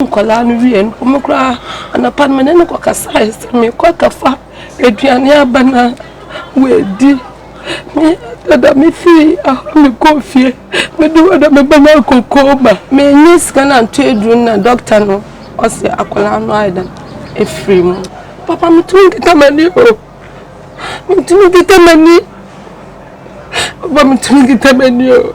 Ɔhwɛɛ nkwadaa no wiee no, wɔn koraa anapa no me ne no kɔkasaeɛ sɛ mekɔ akɔfa aduane aba no a wɔadi. Me dada mefiri ahɔ mekɔɔ fie mede hɔ na mebɛnya kokoo ma. Menni sika no anto aduru no na dɔkta no ɔse akwadaa no ayɛ dɛn ɛfiri mu. Papa metumi nkita m'ani o, metumi nkita m'ani, papa metumi nkita m'ani o.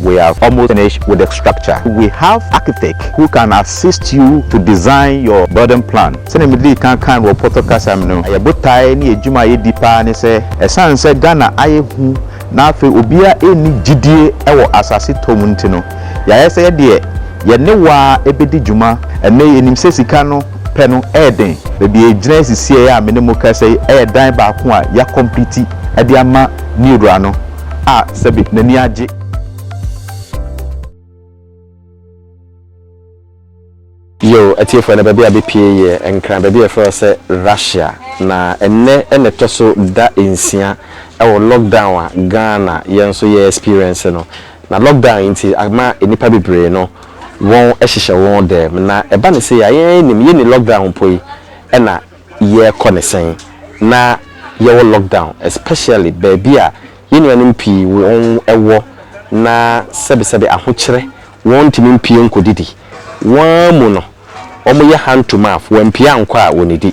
We have almost finished with the structure. We have architect who can assist you to design your building plan. Sɛnea medii kan kae no wɔ Pɔtɔ kasa mu no, yɛn botae ne yɛn adwuma a yedi paa ne sɛ, ɛsiane sɛ Ghana ayɛ hu na afei obiara nni gyidie wɔ asase tɔ mu nti no, yɛayɛ sɛ yɛdeɛ yɛne wo ara bɛdi dwuma. Ɛnnɛ yi, yɛnim sɛ sika no pɛ no yɛ den. Baabi a yɛgyina sisi a ɛyɛ a me ne mo rekasa yi yɛ dan baako a yɛakɔmpliti de ama ne wura no. a sɛbe n'ani agye. Yoo atiefo ɛnɛ baabi a bepie yɛ nkran baabi a yɛfrɛ hɔ sɛ Russia na ɛnnɛ na ɛtɔ so da nsia wɔ lock down a Ghana yɛn nso yɛ experience no na lock down yi nti ama nnipa bebree no wɔn hyehyɛ wɔn dɛm na ɛba no sei a yɛn ara yɛnim yɛnni lock down mpo yi na yɛkɔ ne sɛn na yɛwɔ lockdown especially baabi a yɛn nuanom pii wɔn wɔ na sɛbesɛbe ahokyerɛ wɔn ntumi mpie nkɔ didi wɔn ara mu no wɔn yɛ hand to mouth wampie ankɔ a wɔnidi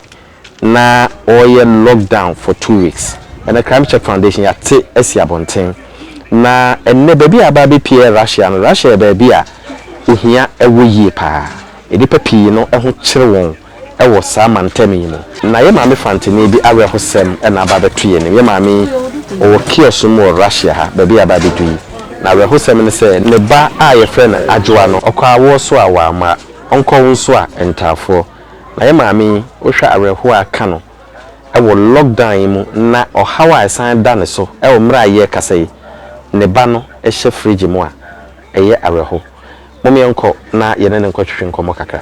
na ɔyɛ lockdown for two weeks ɛnɛ crime check foundation yɛate asi abɔnten na ɛnɛ baabi a aba abɛpie yɛ Russia no Russia yɛ baabi a ohia ɛwɔ yie paa nnipa pii no ho kyere wɔn wɔ saa mantam yi mu. Na yɛn maame Fantini bi awerɛhosɛm na aba abɛto yɛn anim. Yɛn maame yi, ɔwɔ kiosk mu wɔ Russia ha, baabi a yɛaba abɛdu yi. Na awerɛhosɛm ne sɛ, ne ba a wɔfrɛ no Adwoa no, ɔkɔɔ awoɔ so a wɔamma ɔnkɔ wo nso a, ntaafoɔ. Na yɛn maame yi, wohwɛ a awerɛhoɔ a aka no wɔ lockdown yi mu na ɔhaw a ɛsan da ne so wɔ mmerɛ a yɛrekasa yi, ne ba no hyɛ fridge mu a, ɛyɛ awerɛho. Mom yɛnkɔ na yɛne no nkɔtwetwe nkɔmmɔ kakra.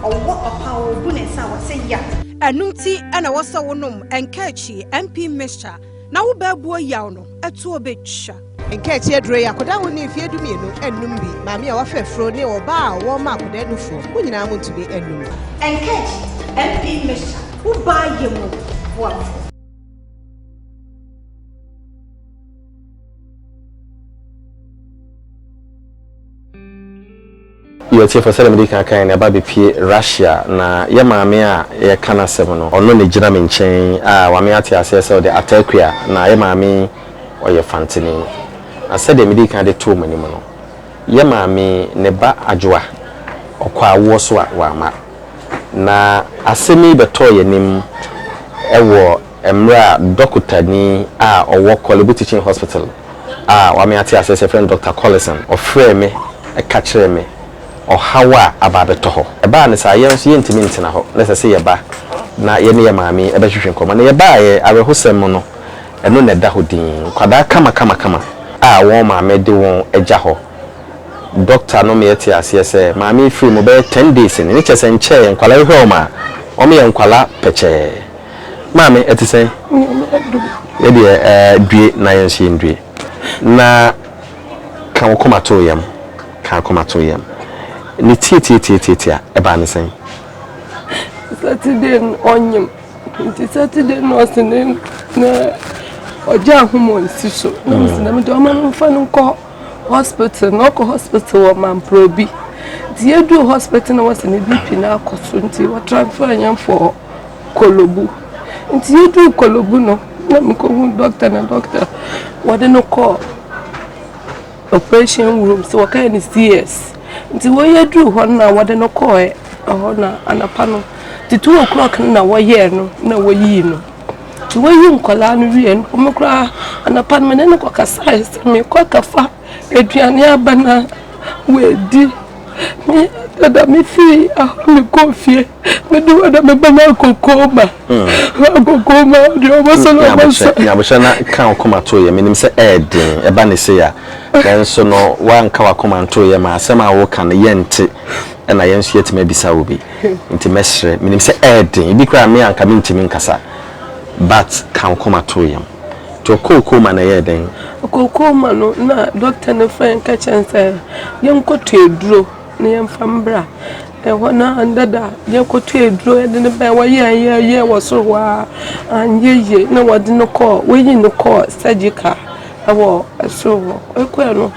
Ɔwɔ ɔpaa wɔ obu ne nsa a w'asɛ yaw. Ɛno nti na ɛwɔ sɛ wo nom Nkaakyi MP mixture na wo bɛɛboɔ yaw no ɛtoɔ bɛtwa. Nkaakyi aduro yi akɔdaa wo ne mfeɛ dumienu nnom bi, maame a w'afɛ afuro ne ɔbaa a ɔwɔ mma akɔdaa nufoɔ mo nyinaa mo ntumi nnom. Nkaakyi MP mixture wo baa yɛ mu boafoɔ. Yɛ ɔtiefo, sɛdeɛ mede kan kaeɛ no, ɛba bɛpue Russia, na yɛ maame a yɛreka n'asɛm no, ɔno na ɛgyina me nkyɛn a wame ate aseɛ sɛ ɔde Atakua, na yɛ maame yi ɔyɛ Fantini. Na sɛdeɛ mede kan de too mo anim no, yɛ maame yi ne ba Adwoa, ɔkɔɔ awoɔ so a wamma. Na asɛm yi bɛtɔɔ yɛn anim wɔ. Mmerɛ a dɔkotani a ɔwɔ Korle-bu Teaching Hospital a wɔame ate aseɛ sɛ yɛfrɛ no Dɔkta Collison, ɔfrɛɛ me ka kyerɛɛ me ɔhaw a aba abɛtɔ hɔ. Ɛbaa no saa, yɛn nso yɛntumi ntena hɔ, na ɛsɛ sɛ yɛba na yɛne yɛn maame bɛhwehwɛ nkɔmmɔ. Na yɛbaeɛ, awerɛhosɛm mu no, ɛno na ɛda hɔ dinn. Nkwadaa kamakamakama a wɔn maame de wɔn agya hɔ. Dɔkta no meɛ tee aseɛ sɛ maame yi firii mu bɛyɛ ten days ni, ne kyerɛ sɛ nkyɛɛ nkwadaa yi hwɛ wɔn a, wɔyɛ nkwadaa pɛkyɛɛ. Maame, ɛte sɛn? Yɛ deɛ eh, due na yɛn nso yɛndue. Na ka wo koma to yam, ka akoma to yam. Ne tiatiatiatiati a, ɛbaa ne sɛn? Saturday no ɔnyem, nti Saturday no ɔse ne, ne ɔgya ahoma ɔnsi so. Na mese na mede ɔma no mfa no nkɔ Hospital na ɔkɔ hospital wɔ Mamprobi nti yɛduu hospital na wɔsɛ ne BP no akɔ so nti wɔ transfer yɛn fɔ Kolobu nti yɛduu Kolobu no na mekɔhu doctor na doctor wɔde no kɔ operation room sɛ wɔkae ne CS nti wɔ yɛduu hɔ no na wɔde no kɔɛ ɛhɔ na anapa no the two o'clock no na wɔyɛɛ no na wɔyii no Nti woyi nkwadaa no wie no, wɔn koraa anapa no me ne no kɔ kasae sɛ mekɔ akɛfa aduane aba na wɔadi. Me dada me fii ahɔ me kɔ fie me de wɔda me ba na akokoo ma. Akokoo ma ɔde ɔmo sɛ na ɔmo sɛ. Nyabohyɛ na ka ɔkoma to yɛ menim sɛ ɛɛden ɛba ne se ya. Nanso no wanka wakoma nto yɛ ma asɛm a wɔka no yɛnte ɛna yɛn nso yɛtumi abisa wo bi. nti mɛsrɛ menim sɛ ɛɛden ebi koraa me a nka mentimi nkasa but ka nkoma to yam nti ɔkɔɔ kooma na ɛyɛɛ dɛn? ɔkɔɔ kooma no na doctor no frɛ nka kyɛn sɛ yɛnkɔtɔ aduro na yɛmfa mbra ɛhɔ na dada yɛkɔtɔ aduro yɛde no bɛn wɔyɛ yɛ yɛ wɔ soro hɔ a anyɛ yie na wɔde no kɔɔ wɔyi no kɔɔ surgical ɛwɔ soro hɔ ɛkɔɛ no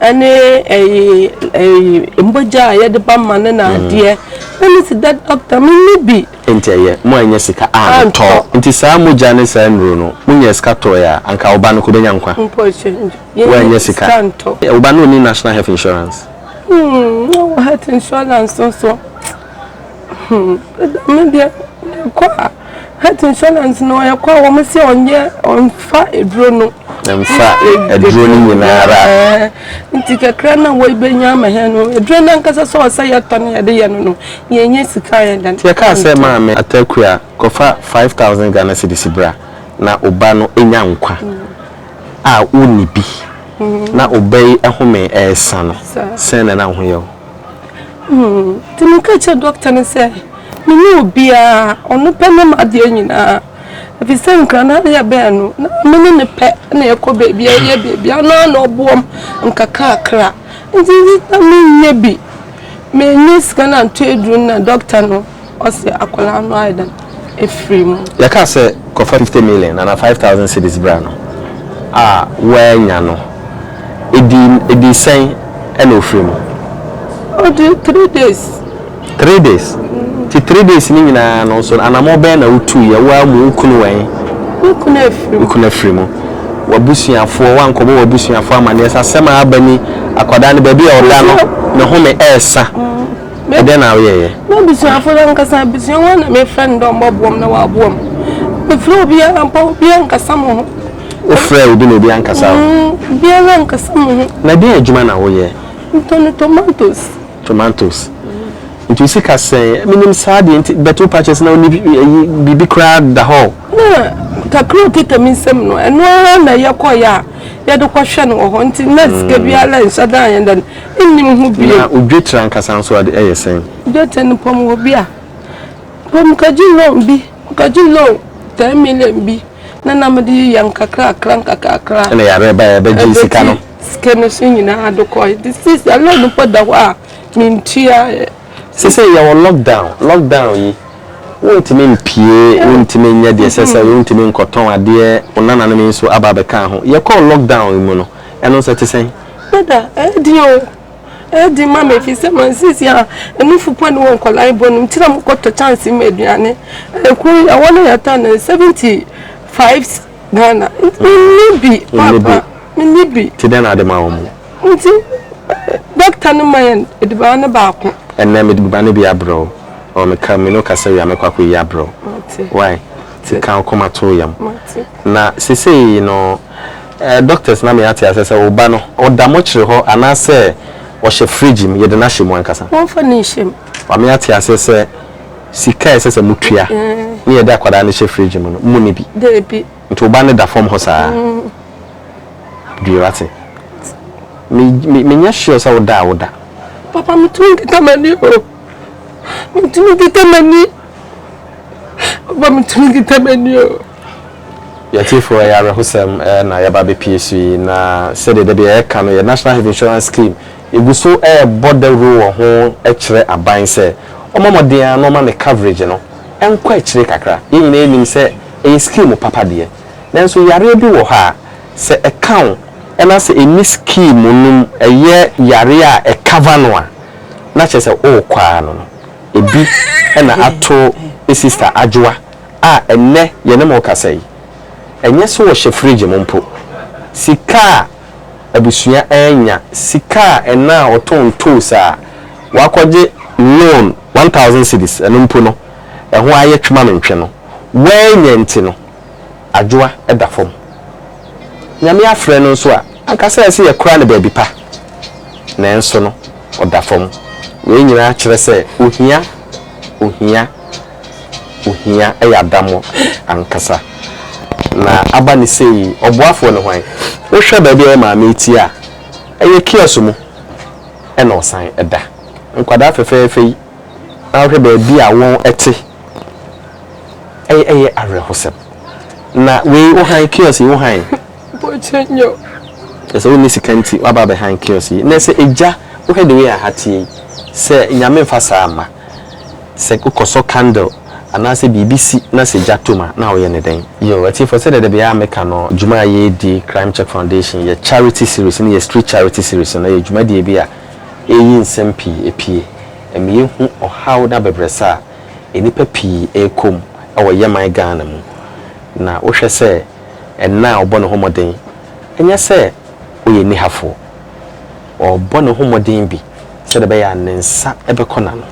ɛne ɛyi ɛyi mbogya a yɛde ba ma ne na adeɛ na ne si da dɔkta me ni bi. nti ɛyɛ mo a nyɛ sika a ne tɔ nti saa mogya ne saa nnuro no mo nyɛ sika tɔɛ a anka wo ba no ko bɛnya nkwa wo a nyɛ sika wo ba no ɔni national health insurance. Hmm, no health insurance nso. Hmm, dɛm deɛ yɛkɔ a health insurance no yɛkɔ a wɔn sɛ ɔnyɛ ɔnfa aduro no. Mfa aduro no nyinaa ara. Nti kakra na wɔbɛnya ama hɛn no aduro no ankasa sɛ ɔsɛ yɛtɔ no yɛde yɛ no no yɛnyɛ sika yɛ dan. Nti yɛkaa sɛ maame Atakua kɔfa five thousand Ghana cedis bra na wo ba no nya nkwa a wonni bi na wo ba yi home resa no sɛn na na wo ho yɛ wo? Nti me ka kyerɛ dɔkta no sɛ me ne obiara ɔno pɛ ne m'adeɛ nyinaa ɛfiri sɛ nkrana no yɛ bɛn no na me ne ne pɛ na ɛkɔ baabi a ɛyɛ baabi a na na ɔboam nkakrakra nti na menyɛ bi menyɛ sika na nto aduru na dɔkta no Ɔse akwadaa no ayɛ dɛn afiri mu. Yɛkaa sɛ kɔfa fifty million anaa five thousand cedis bra no a woannya no ɛdii ɛdii sɛn ɛna ɔfiri mu. Ɔdii three days. Three days? Nti three days no nyinaa no nso anamɔ bɛn na wotuiɛ wo ara mu wo kunu wɛn? Me kunu afiri mu. Me kunu afiri mu. W'abusuafoɔ woankɔbɔ w'abusuafoɔ amaneɛ sɛ asɛm a aba ni akwadaa no baabi a ɔda no ne home ɛɛsa. Ɛdɛn na woyɛeɛ? M'abusuafo no ankasa abusua, wɔn na mefrɛ no dɛ ɔmbɔboa m' na ɔaboa m'. Mefrɛ obiara mpo a, obiara annkasa mo ho. Wofrɛɛ obi na obi annkasa wo? Mm, obiara annkasa mo ho. Na dɛn adwuma na woyɛ? Metɔn tomatoes. Tomatoes. Nti wo sika sɛn? Menim saa deɛ nti, but wo pakyɛ sɛ na wonni ayi, biribi koraa da hɔ o. Na kakra a okita me nsam no, ɛno ara na yɛkɔeɛ a yɛde kɔhwɛ no wɔ hɔ, nti na sika biara nnhyɛ da a yɛn dɛ no. nnim ho bio. Na odwetire ankasa nso de, ɛyɛ sɛn? Dwetire no pɔm wɔ bi a, mpo mekɔgye loan bi, mekɔgye loan ten million bi na na mede yeyɛ nkakrakra nkakrakra. Ɛna yareɛ baeɛ a ɛbɛgyee sika no. Ɛbɛgye sika no so nyinaa de kɔe. Nti seesei loan no mpo da hɔ a mentua. Seesei yɛwɔ lockdown, lockdown yi wontumi mpue, wontumi nyɛ deɛ ɛsɛ sɛ ɔyɛ, wontumi nkɔtɔn adeɛ, wo nananom yi nso aba abɛka ho. Yɛkɔɔ lockdown yi mu no, ɛno nso ɛte sɛn? Dada, ɛyɛ den o, ɛyɛ den ma me efisɛ ma nsisi a anufo pɔ ne wɔ nkwadaa bɔ no nti na mokɔtɔ chance ma aduane. Ɛkuro yi ɛwɔ no yɛ tan seventy five Ghana. Menni bi papa, menni bi. Nti dɛn na ade ma wɔn? Nti dɔkta no ma yɛn aduane no baako. Ɛnɛ mede aduane bi abrɛ wo. Ɔɔ meka me ne wo kasa wie a mɛkɔ akɔyi abrɛ wo. Wai? Nti ka wo koma to wo yam. Na seesei no. Eh doctors na me ate asɛ sɛ wo ba no ɔda mɔkyere hɔ anaa sɛ ɔhyɛ fridge mu yɛde no ahyɛ mu ankasa. Wɔnfa no nhyɛ mu. Wa me ate asɛ sɛ sika a ɛsɛ sɛ mo tua ne yɛde akwadaa no hyɛ fridge mu no mo ni bi. Dabi. Nti wo ba no da fam hɔ saa. Due wate. Me me me nyɛ sure sɛ wo da a wo da. Papa me tumi deda m'ani o. Me tumi deda m'ani. Papa me tumi deda m'ani o. Yɛn atiefo, ɛyɛ awerɛhosɛm na yɛaba abepue so yi, na sɛdeɛ da bi yɛreka no, yɛn National Health Insurance Scheme gu so rebɔ dawuro wɔ ho kyerɛ aban sɛ ɔmmɔ mmɔden ara na ɔmma ne coverage no nkɔ akyire kakra. Yɛn nyinaa nim sɛ ɛyɛ scheme papa deɛ, nanso yareɛ bi wɔ hɔ a, sɛ ɛka wo na sɛ ɛnni scheme no mu, ɛyɛ yareɛ a ɛ cover no a, na kyerɛ sɛ worekɔ ara no no, ɛbi na ato sister Adwoa. a ɛnnɛ yɛne mo rekasa yi, ɛnyɛ sɛ wɔhyɛ fridge mu mpo. Sika a abusua renya, sika a ɛna a ɔtɔ ntoosi a wakɔgye loan one thousand cedis, ɛno mpo no, ɛho ayɛ twemamntwe no. Woannya nti no, adwoa da fam. Nyame afrɛ no nso a, anka sɛ ɛsɛ yɛkora no baabi pa, nanso no, ɔda fam. Wei nyinaa kyerɛ sɛ ohia, ohia. ohia yɛ adamɔ ankasa. Na aba no sɛ yi, ɔboafoɔ ne hwan? Wohwɛ baabi a yɛ maame retie a, ɛyɛ kiosk mu na ɔsan da. Nkwadaa fɛfɛɛfɛ yi, na wohwɛ baabi a wɔte, ɛyɛ awerɛhosɛm. Na wei, wo han kiosk yi, wo han? Kyerɛ sɛ wonni sika nti, woaba abɛhan kiosk yi. Nnɛ sɛ agya, wohwɛ the way a ha teɛ yi, sɛ Nyame mfa saa mma. Sɛ wokɔsɔ candle anaasɛ biribi si na sɛ gya tom a, na woyɛ no dɛn? Yo, atiefo, sɛdeɛ da biara meka no, dwuma a yɛredi, Crime Check Foundation, yɛ charity series no yɛ Street Charity Series no, na ɛyɛ dwumadie bi a ɛreyi nsɛm pii ɛpue, ɛma yɛhu ɔhaw ne abɛbrɛsɛ a nnipa pii ɛrekɔ mu wɔ yɛman Ghana mu. Na wohwɛ sɛ ɛnna a ɔbɔ ne ho mmɔden, ɛnyɛ sɛ ɔyɛ nnihafoɔ. ɔrebɔ ne ho mmɔden bi sɛdeɛ ɛbɛyɛ a ne nsa bɛkɔ n'ano,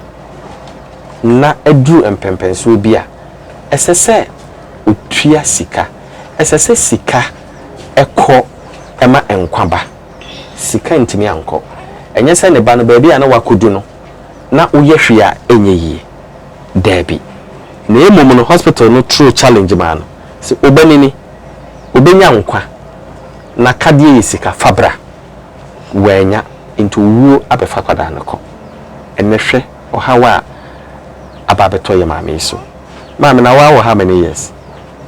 na aduru mpɛnpɛnsoɔ bi a, ɛsɛ sɛ ɔtua sika. Ɛsɛ sɛ sika kɔ ma nkwa ba. Sika ntumi ankɔ. Ɛnyɛ sɛ ne ba no, baabi a na wakɔdu no, na woyɛ hwee a ɛnyɛ yie. Daabi. Na mmom no, hospital no toro challenge maa no sɛ, Obanini, ɔbɛnya nkwa, n'akadeɛ yɛ sika, fa bra. Wannya nti owuo abɛfa akwadaa no kɔ. Ɛnnɛ hwɛ ɔhaw a aba abɛtɔ yɛn maame yi so. Maame na woawɔ how many years?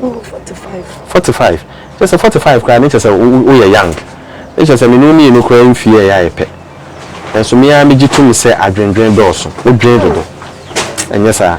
Mewɔ forty five. Forty five? Kyerɛ sɛ forty five koraa no kyerɛ sɛ woyɛ young. Ne kyerɛ sɛ me ne wo mmienu koraa mfie ɛyɛ a yɛ pɛ. Nanso me ara megye tom sɛ adwendwen dɔɔso. Wodwen dodo. Ɛnyɛ saa?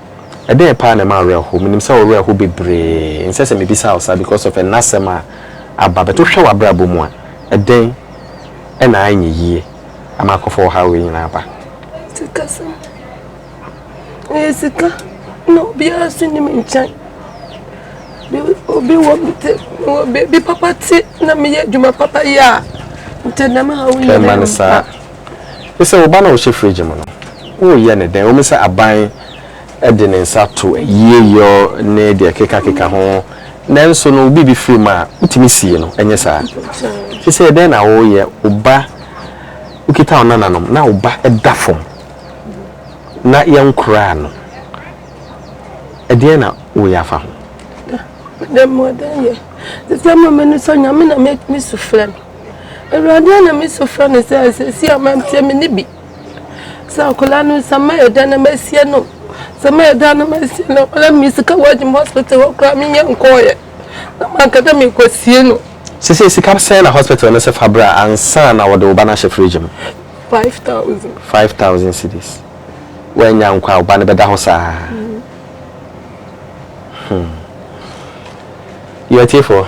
Ɛdeɛn paa na ɛma awerɛhow? Menim sɛ wo werɛ how bebree. Ɛnsɛ sɛ mebisa wo saa because of ɛnnɛ asɛm a aba but wohwɛ w'abrabɔ mu a, ɛdɛn na anyɛ yie ama akɔfa ɔhaw wei nyinaa aba? Sikasɛm. Ɛyɛ sika na obiara nso nni me nkyɛn. Obi wɔ me te baabi papa te na meyɛ adwuma papa yɛ a, nti ɛnam haw nyinaa ba. Ne sɛ wo ba no a ɔhyɛ fridge mu no, woreyɛ no dɛn? Ɛwɔ mu sɛ aban de ne nsa to ayieyɔ ne deɛ ɛkekakeka ho, nanso no wo biribi firi mu a, wotumi sie no, ɛnyɛ saa? Seesei dɛn na woreyɛ? Wo ba, wokita wo nananom na wo ba da fam na yɛnkoraa no, ɛdeɛn na woreyɛ afa ho? Dɛn na mede ayɛ? Ɛsɛ sɛ mema m'ani sɔ Nyame na mesu frɛ no. Awurade a na mesu frɛ no sɛ asɛsi a mamteɛ me ne bi sɛ akwadaa no sɛ mayɛ dɛn na masie no sɛ mayɛ dɛn na masie no akwadaa no mesika wɔagyim hospital hɔ koraa menyɛ nkɔɔyɛ na manka dɛ mekɔsie no sese sika sɛn na hospital no sɛ fa bra ansa na wɔde wo ba no ahyɛ fridge mu 5000 5000 cedis woannya nkɔ a wo ba no bɛda hɔ saa mm. Hmm. Yɛn atiefo,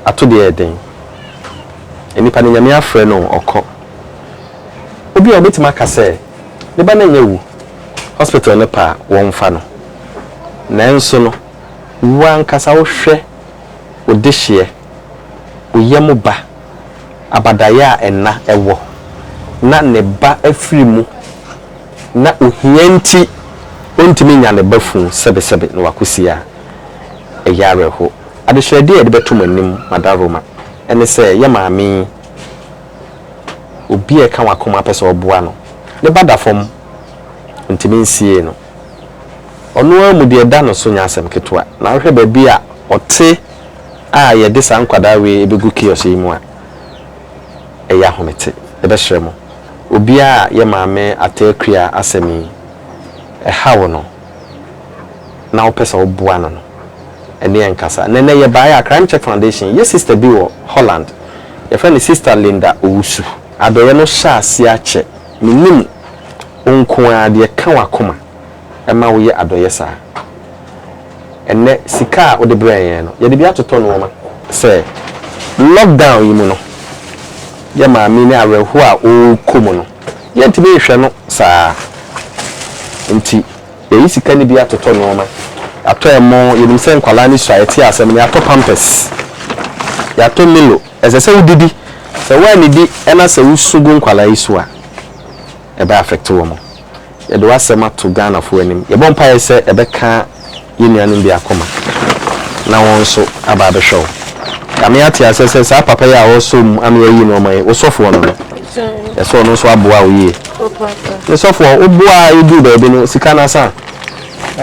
ato deɛ yɛ den. Nnipa no Nyame afrɛ no ɔkɔ. Obi a ɔbɛtumi aka sɛ ne ba no nyɛ wu hospital no pɛ a wɔmfa no. Nanso no wo ankasa wo hwɛ wo dehyeɛ, wo yam ba, abadaeɛ a ɛna ɛwɔ na ne ba afiri mu. na ohia nti ontumi nnya ne ba funu sɛbesɛbe na wakɔsie a, ɛyɛ awerɛhoɔ. Adesrɛdeɛ a yɛde bɛto mo anim, Mada Roma, ne sɛ yɛ maame yi, obi a ɛka w'akoma pɛ sɛ ɔboa no, ne ba da fam, ntumi nsiee no. Ɔno ara mu deɛ ɛda no so nyɛ asɛm ketewa, na wohwɛ baabi a ɔte a yɛde saa nkwadaa wei bɛgu kiosk yi mu a, ɛyɛ ahomete. Yɛbɛsrɛ mo, obiara a yɛ Maame Attaah Kuiaa asɛm yi ɛha wo no na wopɛ sɛ woboa no no, ɛne yɛn nkasa. Na ɛnnɛ yɛbaeɛ a, Crime Check Foundation, yɛ sister bi wɔ Holland, yɛfrɛ no Sister Linda Owusu. Adɔeɛ no hyɛaseɛ akyɛ, mennim wo nko ara deɛ ɛka w'akoma. ma woyɛ adɔeɛ saa. Ɛnnɛ sika a wode brɛɛ yɛn no, yɛde bi atotɔ nnoɔma. Sɛ lockdown yi mu no, yɛ maame ne awerɛhoɔ a ɔrekɔ mu no, yɛntumi nhwɛ no saa nti, yɛayi sika no bi atotɔ nnoɔma. Yɛatɔ ɛmo, yɛnim sɛ nkwadaa no sua, yɛte asɛm no, yɛatɔ pampers, yɛatɔ Milo. Ɛsɛ sɛ wodidi, sɛ woannidi na sɛ wosu gu nkwadaa yi so a, ɛbɛ affect wɔn. Yɛde w'asɛm ato Ghanafoɔ anim. Yɛbɔ mpaeɛ sɛ ɛbɛka yɛn nuanom bi akoma na wɔn nso aba abɛhwɛ wo. Kame ate aseɛ sɛ saa papa yi a ɔresɔ mu ano ayi nnoɔma yi, wo sɔfoɔ no no, yɛ sɛ ɔno nso aboa wo yie. Me sɔfoɔ, wo boa a ɛduru baabi no, sika no asa a?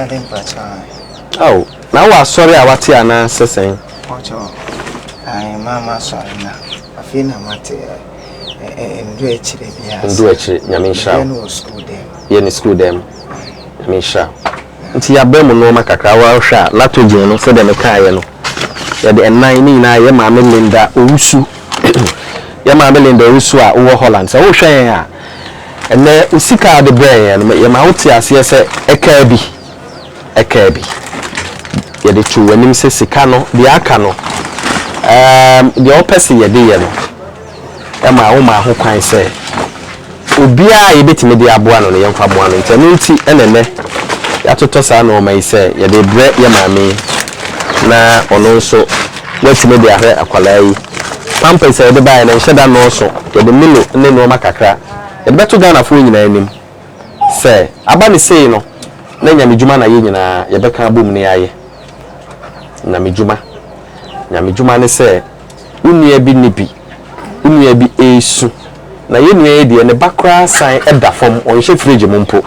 Ao, na wowɔ asɔre a wate anaa sɛ sɛn? Mpakyɛw, ae, ma masɔre na afei na mate ɛ. Ndo akyire biara. Ndo akyire nyame nhyira wo. Yɛ no wɔ sukuu dɛm. Yɛ no sukuu dɛm nyame nhyira wo. Nti yɛabrɛ mo nnoɔma kakra wo ara hwɛ a latogen no sɛdeɛ mekaeɛ no yɛde ɛnan ne nyinaa yɛ maame Linda Owusu yɛ maame Linda Owusu a wowɔ Holland sɛ wohwɛ yɛn a ɛnɛ wo sika a wode brɛɛ yɛn no yɛma wote aseɛ sɛ ɛkaa bi ɛkaa bi. Yɛde too w'anim sɛ sika no, deɛ aka no, ɛɛm, deɛ wopɛ sɛ yɛde yɛ no, ɛmaa womaa ho kwan sɛ obiara a yɛbɛtumi de aboa no no, yɛmfa mmoa no. Nti ɛno nti na ɛnnɛ yɛatotɔ saa nnoɔma yi sɛ yɛde rebrɛ yɛ maame yi na ɔno nso watumi de ahwɛ akwadaa yi. Pampers a yɛde baeɛ no, ɛnhyɛ da nnɔɔso. Yɛde Milo ne nnoɔma kakra. Yɛde bɛto Ghanafoɔ nyinaa anim. Sɛ aba no sei no, na Nyame dwuma na yɛ nyinaa yɛbɛka abom na yɛayɛ. Nyame dwuma, Nyame dwuma ne sɛ wo nua bi nni bi, wo nua bi resu, na yɛ nua yi deɛ ne ba koraa san da fam, ɔnhyɛ fridge mu mpo,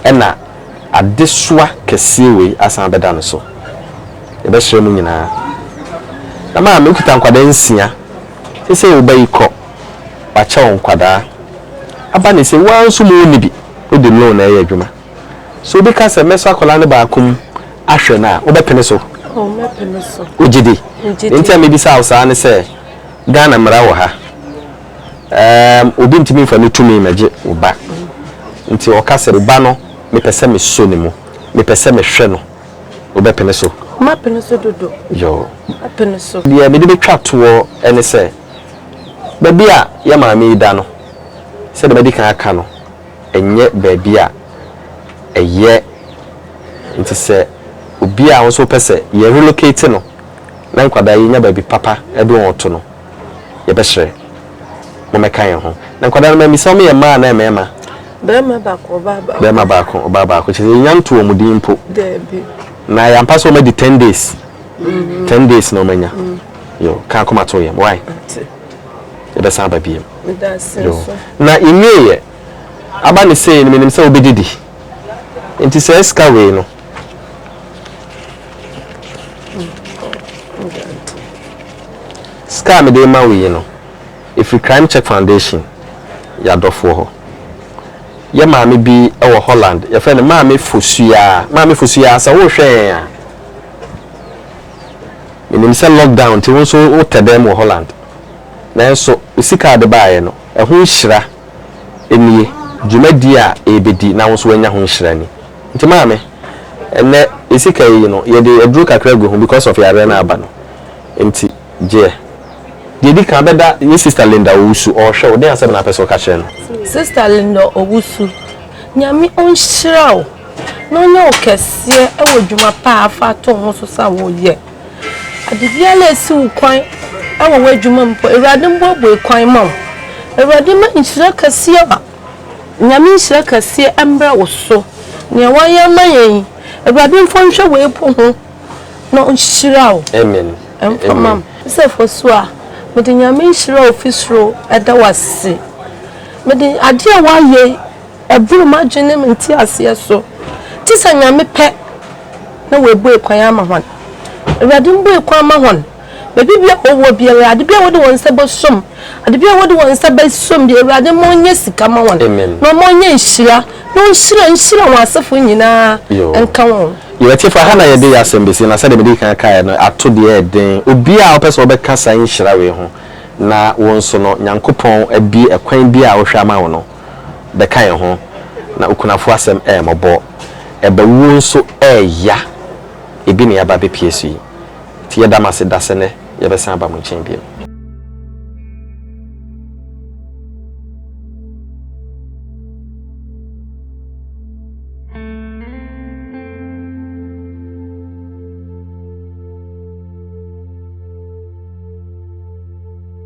ɛna adesoa kɛseɛ wei asan abɛda no so. Yɛbɛsrɛ mo nyinaa, na maame, wokita nkwadaa nsia, seesei wo ba yi kɔ. wakyɛw nkwadaa aba ne sɛ woaa nso mu wo nni bi wode loan ɛyɛ adwuma so obi ka sɛ mɛsɔ akwadaa no baako mu ahwɛ no a wobɛpene so? Oh mɛpene so. Wogye di? Megye di. Nti a mebisa wo saa ne sɛ Ghana mmara wɔ ha ɛɛm obi ntumi nfa ne tumi mɛgye wo ba nti ɔka sɛ wo ba no mepɛ sɛ mesɔ ne mu mepɛ sɛ mehwɛ no wobɛpene so? Mapene so dodo. Yoo. Mapene so. Deɛ mede bɛtwa toɔ ɛne sɛ Baabi a yɛn maame yi da no, sɛdeɛ madi kan aka no, ɛnyɛ baabi a ɛyɛ. Nti sɛ obi a wo nso wopɛ sɛ yɛ relocate no na nkwadaa yi nya baabi papa de wɔn reto no, yɛbɛsrɛ mommɛka yɛn ho. Na nkwadaa no mammisa wɔn yɛ mmaa anaa mmarima? Barima baako, ɔbaa baako. Barima baako, ɔbaa baako. Kyerɛ sɛ yɛnya nto wɔn din mpo. Daabi. Na yɛampa sɛ wɔadi ten days. Mm-hmm. Ten days na wɔanya. Mm. yo ka akoma to yɛm why yɛbɛsan aba biem yo na yɛnwieɛ aba ne sei no menim sɛ wobɛgye di nti sɛ sika wei no sika a mede ma wo yi no ɛfiri crime check foundation yɛadɔfoɔ hɔ yɛ maame bi wɔ holland yɛfrɛ no maame fosuaa maame fosuaa sɛ wohwɛ yɛn a Menim sɛ lockdown nti wo nso wotɛ dɛm wɔ Holland. Nanso wo sika a wode baeɛ no, ɛho nhyira nie, dwumadie a ɛrebɛdi na wo nso woanya ho nhyira ni. Nti maame, ɛnnɛ yɛ sika yi no, yɛde aduro kakra agu ho because of yareɛ no a aba no nti, gyeɛ. Deɛ ɛdi kan, bɛda yɛ Sister Linda Owusu, ɔrehwɛ wo, dɛn asɛm na wopɛ sɛ woka kyerɛ no? Sister Linda Owusu, Nyame ɔnhyira wo. na ɔnyɛ wo kɛseɛ wɔ dwuma pa a afa ato ho so sa woyɛ. Ade biara a ɛsi wo kwan wɔ w'adwuma mu mpo, Awurade mbuebue kwan ma wo. Awurade mma nhyira kɛseɛ a, Nyame nhyira kɛseɛ mmra wo so. Nea wayɛ ama yɛn yi, Awurade mfa nhwɛ wei po ho na ɔnhyira wo. Amen. Mfa ma me. Sɛ fo so a, mede Nyame nhyira a ofi soro da wo ase. Mede adeɛ a wayɛ yi. Ɛboro m'adwenem nteaseɛ so. Gye sɛ Nyame pɛ na W'abue kwan ama hɔn. Awurade mbue kwan ma hɔn. Baabi bia a wɔwɔ biara, ade bia a wɔde wɔn nsa bɛsom, ade bia a wɔde wɔn nsa bɛsom bia, Awurade ma ɔnyɛ sika ma hɔn, na ɔma ɔnyɛ nhyira, na ɔnhyira nhyira wɔn asefo nyinaa nka wɔn. Yɛn atiefo, ɛha na yɛde yɛn asɛm besi, na sɛdeɛ mede kan kaeɛ no, ato deɛ ɛyɛ den. Obiara a ɔpɛ sɛ ɔbɛka saa nhyira wei ho na wo nso no, Nyankopɔn abue ɛkwan bi a ɔhwɛ ama wo no, bɛka yɛn ho, na okunafo asɛm yɛ mmɔbɔ. Ɛba wuo nso ɛya. Ebi na yɛaba abɛpue so yi. Nti yɛda mo ase da sɛ nnɛ yɛbɛsan aba mo nkyɛn bio.